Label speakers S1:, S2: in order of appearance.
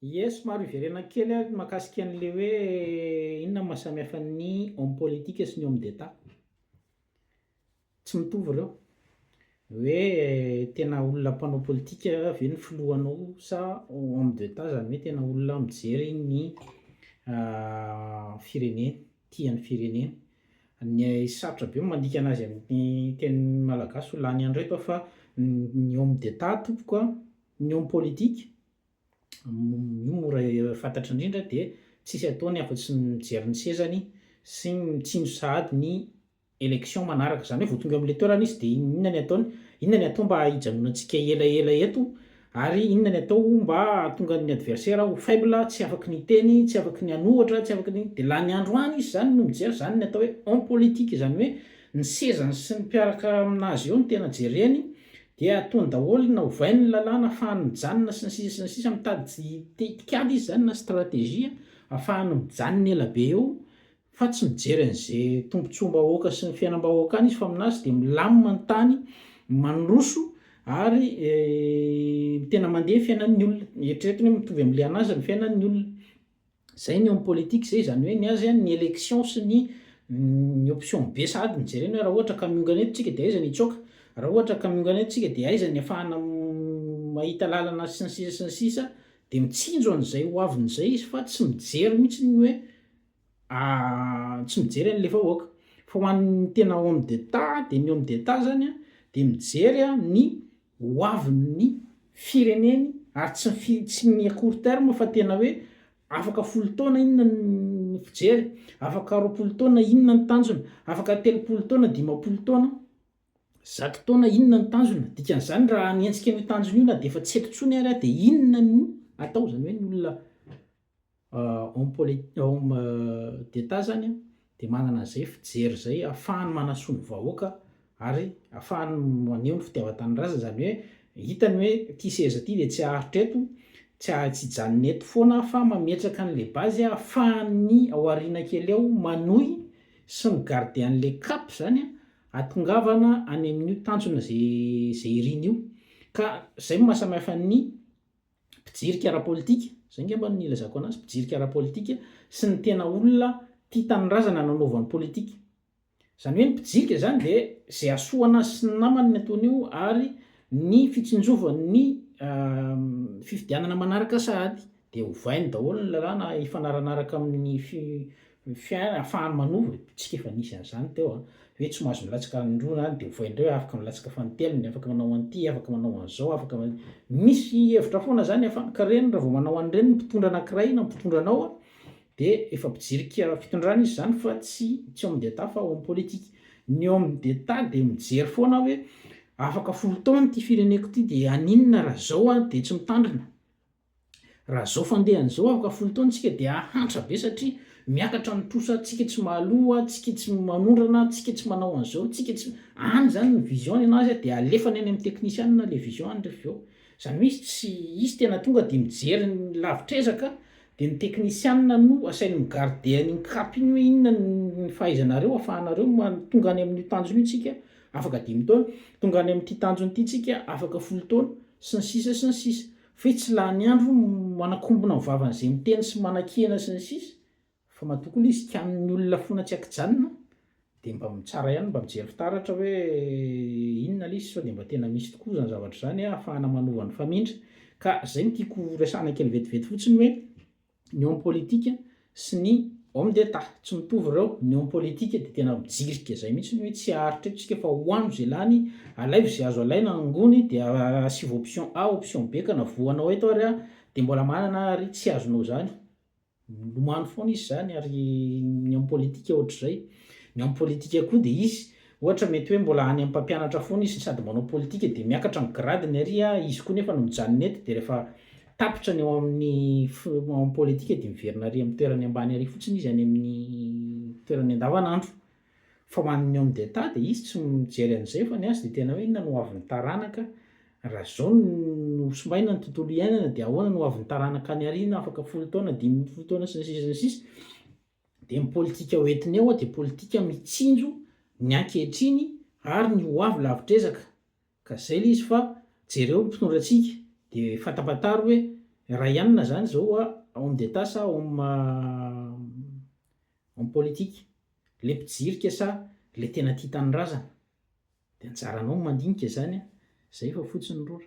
S1: Ie somary hiverena kely aho mahakasika an'ilay hoe inona no mahasamihafa ny homme politique sy ny homme d'Etat. Tsy mitovy ireo. Hoe tena olona mpanao politika ve ny filohanao sa homme d'Etat izany hoe tena olona mijery ny fireneny, tia ny fireneny. Ny sarotra be ny mandika anazy amin'ny teny malagasy ho lany andro eto aho fa ny homme d'Etat tompoko a, ny homme politique io mora fantatra indrindra dia tsisy ataony afa-tsy ny mijery ny sezany sy mitsinjo sahady ny election manaraka. Izany hoe vao tonga eo amin'ilay toerana izy dia inona ny ataony, inona ny atao mba hijanonantsika elaela eto ary inona ny atao mba hahatonga ny adversaire ho faible, tsy afaky ny hiteny, tsy afaky ny hanohatra, tsy afaky ny, dia lany andro any izy izany no mijery, izany ny atao hoe en politique, izany hoe ny sezany sy ny mpiaraka amin'azy eo no tena jereny Dia ataony daholo na ovainy ny lalàna afahany mijanona sy ny sisa sy ny sisa mitady tetikady izy zany na strategie afahany mijanona ela be eo fa tsy mijery an'ze tombotsoam-bahoaka sy ny fiainam-bahoaka any izy fa aminazy dia milamina ny tany mandroso ary tena mandeha fiainan'ny olona eritreretiny hoe mitovy amle anazy ny fiainan'ny olona Zay ny eo am politique zay, zany hoe ny azy an ny election sy ny ny option be sahady no jerena hoe raha ohatra ka miongana eto tsika de aiza ny hitsoaka, raha ohatra ka miongana eto tsika de aiza ny afahana mahita lalana sy ny sisa sy ny sisa, de mitsinjo an'izay ho aviny zay izy fa tsy mijery mihitsy ny hoe tsy mijery an'le vahoaka. Fa ho an'ny tena homme d'etat de ny homme d'etat zany an de mijery an ny ho avy ny fireneny ary tsy ny fi tsy ny à court terme fa tena hoe afaka folo taona inona ny fijery, afaka roapolo taona inona ny tanjona, afaka telopolo taona, dimampolo taona, zato taona inona ny tanjona, dikan'izany raha hanenjika an'io tanjona io na dia efa tsy eto intsony ary aho dia inona no atao, izany hoe ny olona Homme politique, homme d'Etat zany dia manana an'izay fijery izay ahafahany manasoa ny vahoaka ary ahafahany maneho ny fitiavan-tanindrazana, izany hoe hitany hoe ity seza ity dia tsy haharitra eto, tsy ha- tsy hijanona eto foana fa mametraka an'ilay base ahafahan'ny ao aoriana kely ao manohy sy mi-garder an'ilay cap zany hahatongavana any amin'io tanjona izay izay iriny io, ka izay no maha samy hafa ny. mpijirika ara-politika, izay ngamba no nilazako anazy, mpijirika ara-politika sy ny tena olona tia tanindrazana nanaovany politika. Izany hoe ny mpijirika izany dia izay hasoa anazy sy ny namany ny ataony io ary ny fitsinjovan'ny fifidianana manaraka sahady dia ovainy daholo ny lalàna hifanaranaraka amin'ny ny fiainana, ahafahany manova ny bitsika efa nisy an'izany teo an, hoe tsy mahazo milatsaka any indroa na any dia ovaina indray hoe afaka milatsaka fanintelony, afaka manao an'ity, afaka manao an'izao, afaka man, misy hevitra foana izany ahafahany, ka ireny raha vao manao an'ireny ny mpitondra anankiray na mpitondra anao an, dia efa mpijirika fitondrana izy izany fa tsy tsy homme d'Etat fa homme politique, ny homme d'Etat dia mijery foana hoe afaka folo taona ity fireneko ity dia haninona raha izao an dia tsy mitandrina, Raha izao fandehany izao afaka folo taona tsika dia hahantra be satria miakatra ny trosa tsika tsy mahaloa tsika tsy manondrana tsika tsy manao an'izao tsika tsy any izany ny vision ny anazy dia alefany any amin'ny teknisianina ilay vision any rehefa avy eo izany hoe izy tsy izy tena tonga dia mijery ny lavitr'ezaka dia ny teknisianina no asainy mi-garder an'iny cap iny hoe inona ny fahaizanareo afahanareo tonga any amin'io tanjona io tsika afaka dimy taona tonga any amin'ity tanjona ity tsika afaka folo taona sy ny sisa sy ny sisa Fe tsy lany andro manakombona ny vavany ze miteny sy manakihana sy ny sisa fa matoa koa le izy kianin ny olona fona tsy akijanona de mba mitsara ihany mba mijery fitaratra hoe inona le izy sao de mba tena misy tokoa zany zavatra zany ahafahana manova ny famindra ka zay no tiako resahana kely vetivety fotsiny hoe ny homme politique sy ny homme d'Etat, tsy mitovy ireo, ny homme politique dia tena mijirika izay mihitsy hoe tsy aharitra eto isika fa ho ano izay lany, alaivo izay azo alaina, angony dia asivo option A, option B ka na voanao eto ary aho dia mbola manana ary tsy azonao izany, milomano foana izy izany ary ny homme politique ohatr'izay, ny homme politique koa dia izy Ohatra, mety hoe mbola any amin'ny mpampianatra foana izy sady manao politika dia miakatra ny gradiny ary izy koa nefa no mijanona eto dia rehefa tapitra ny ao amin'ny ao amin'ny politika dia miverina ary amin'ny toerany ambany ary fotsiny izy any amin'ny toerany andavanandro. Fa ho an'ny homme d'Etat dia izy tsy mijery an'izay fa ny azy dia tena hoe inona no ho avin'ny taranaka raha izao no simbaina ny tontolo iainana dia ahoana no ho avin'ny taranaka any aoriana afaka folo taona, dimy ambin'ny folo taona sy ny sisa sy ny sisa. Dia ny politika ho entiny ao dia politika mitsinjo ny ankehitriny ary ny ho avy lavitr'ezaka. Ka zay le izy fa jereo ny mpitondra antsika dia fatapataro hoe raha ianona zany zao hoa homme d'Etat sa homme homme politique? Le mpijirika sa le tena tia tanindrazana? De anjaranao ny mandinika zany an! Zay fa fotsiny rora.